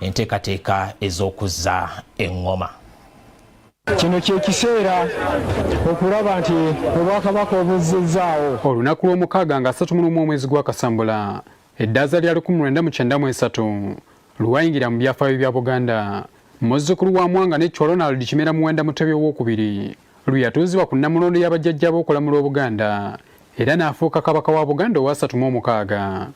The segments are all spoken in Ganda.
enteekateeka ez'okuzza eŋŋoma kino kyekiseera okulaba nti obwakabaka obuzizzaawo olunaku lw'omukaaga nga 3 mulumu omwezi gwa kasambula eddaaza lya 1993 lwayingira mu byafaayo bya buganda muzzukulu wa mwanga nekkyo ronald kimera muwenda mutebi owokubiri lweyatuuzibwa ku nnamulondo y'abajjajja b'okulamula obuganda era n'afuuka kabaka wa buganda owasatu mu omukaaga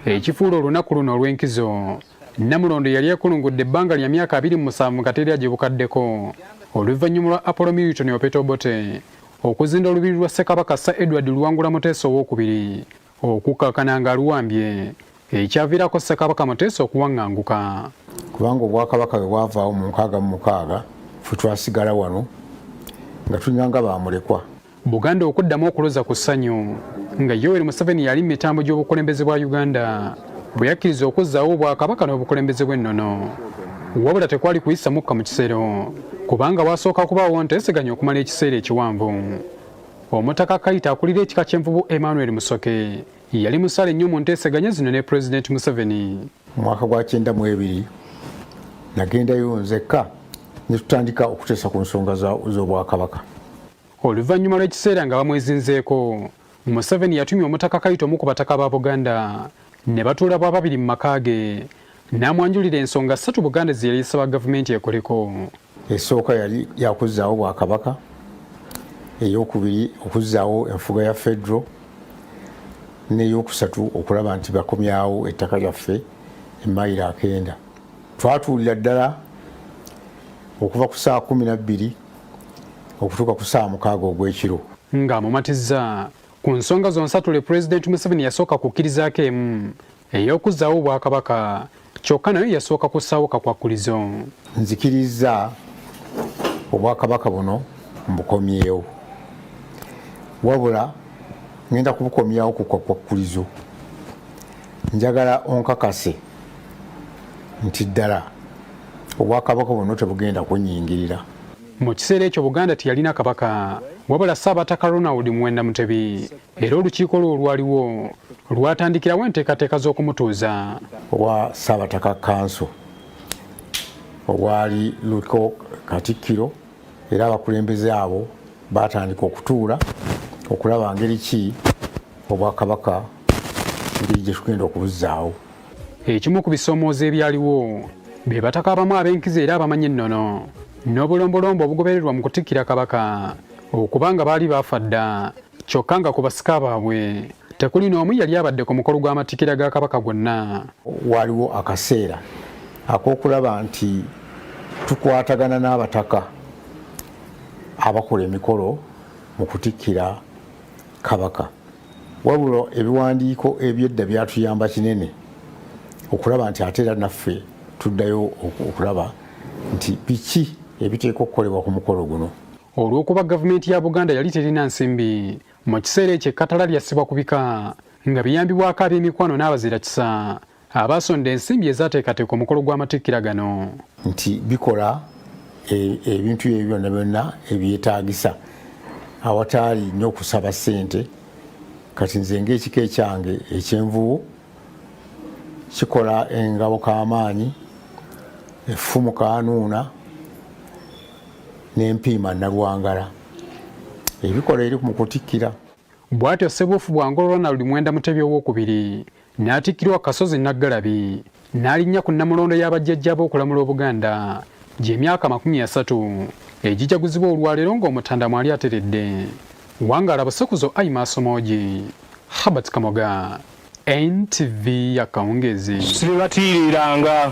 ekifuula olunaku luno olw'enkizo namulondo yali yakulungudde ebbanga lya myaka abiri mu musanvu nga teri agibukaddeko oluvannyuma lwa apollo milton opetobote okuzinda olubiri lwa ssekabaka sir edward luwangula muteesa owokubiri okukakkana nga luwambye ekyaviirako Ssekabaka Muteesa okuwaŋŋanguka. Kubanga obwakabaka bwe bwavaawo mu nkaaga mu mukaaga fe twasigala wano nga tulina nga bamulekwa. Buganda okuddamu okuloza ku ssanyu nga Yoweri Museveni yali mu mitambo gy'obukulembeze bwa Uganda bwe yakkiriza okuzzaawo obwakabaka n'obukulembeze bw'ennono. Wabula tekwali kuyisa mukka mu kisero kubanga waasooka kubaawo nteeseganya okumala ekiseera ekiwanvu. Omutaka Kayita akulira ekika ky'envubu Emmanuel Musoke yali musale nnyo mu nteeseganya zino ne Pulezidenti Museveni. Mu mwaka gwa kyenda mu ebiri nagendayo nzekka ne tutandika okuteesa ku nsonga z'Obwakabaka. Oluvannyuma lw'ekiseera nga bamwezinzeeko, Museveni yatumya Omutaka Kayita omu ku bataka ba Buganda ne batuula bwa babiri mu maka ge n'amwanjulira ensonga ssatu Buganda ze yali esaba gavumenti ekoleko. esooka yali yakuzzaawo bwakabaka eyokubiri okuzzaawo enfuga ya federo neyokusatu okulaba nti bakomyawo ettaka lyaffe emayiro akenda twatuulira ddala okuva ku saa kumi nabbiri okutuuka ku saa mukaaga ogwekiro nga mumatiza ku nsonga zonsatule pulezidenti museveni yasooka kukkirizaako emu Ey'okuzzaawo obwakabaka kyokka nayo yasooka kussaawo kakwakkulizo. Nzikirizza obwakabaka buno mbukomyewo wabula ngenda kubukomyawo ku kwakwakkulizo njagala onkakase nti ddala obwakabaka buno tebugenda kunyingirira mu kiseera ekyo buganda teyalina kabaka wabula ssaabataka ronald muwenda mutebi era olukiiko lwo olwaliwo lwatandikirawo enteekateeka z'okumutuuza obwa ssaabataka kanso obwali luko katikkiro era abakulembeze abo baatandika okutuula okulaba ngeri ki obwakabaka ngeri gye tugenda okubuzzaawo ekimu ku bisoomooza ebyaliwo be bataka abamu ab'enkizo era abamanyi ennono n'obulombolombo obugobererwa mu kutikkira kabaka okuba nga baali baafa dda kyokka nga ku basika baabwe tekuli n'omu yali abadde ku mukolo gw'amatikira ga kabaka gwonna waaliwo akaseera ak'okulaba nti tukwatagana n'abataka abakola emikolo mu kutikkira kabaka wabula ebiwandiiko ebyedda byatuyamba kinene okulaba nti ate era naffe tuddayo okulaba nti biki ebiteeka okukolebwa ku mukolo guno Olw'okuba gavumenti ya Buganda yali terina nsimbi, mu kiseera ekyo ekkatala lyassibwa ku bika nga biyambibwako ab'emikwano n'abazira kisa abaasonda ensimbi ezaateekateeka omukolo gw'amatikkira gano nti bikola e, ebintu ebyo byonna byonna ebyetaagisa awataali nnyo okusaba ssente kati nze ngaekika ekyange ekyenvubu kikola engabo k'amaanyi effumu kanuuna n'empiima Nalwangala ebikola eri mu kutikkira. Bwatyo Ssebuufu Bwangolo Ronald Mwenda Mutebi ow'okubiri n'atikkirwa Kasozi Naggalabi n'alinnya ku Nnamulondo ya bajjajjaabe okulamula Obuganda gy'emyaka amakumi asatu egijaguzibwa olwaleero ng'Omutanda mwali ateredde. Wangaala busekuzo ayi maaso moogi. Herbert Kamoga. NTV ya Kawungezi. Sibatiiriranga.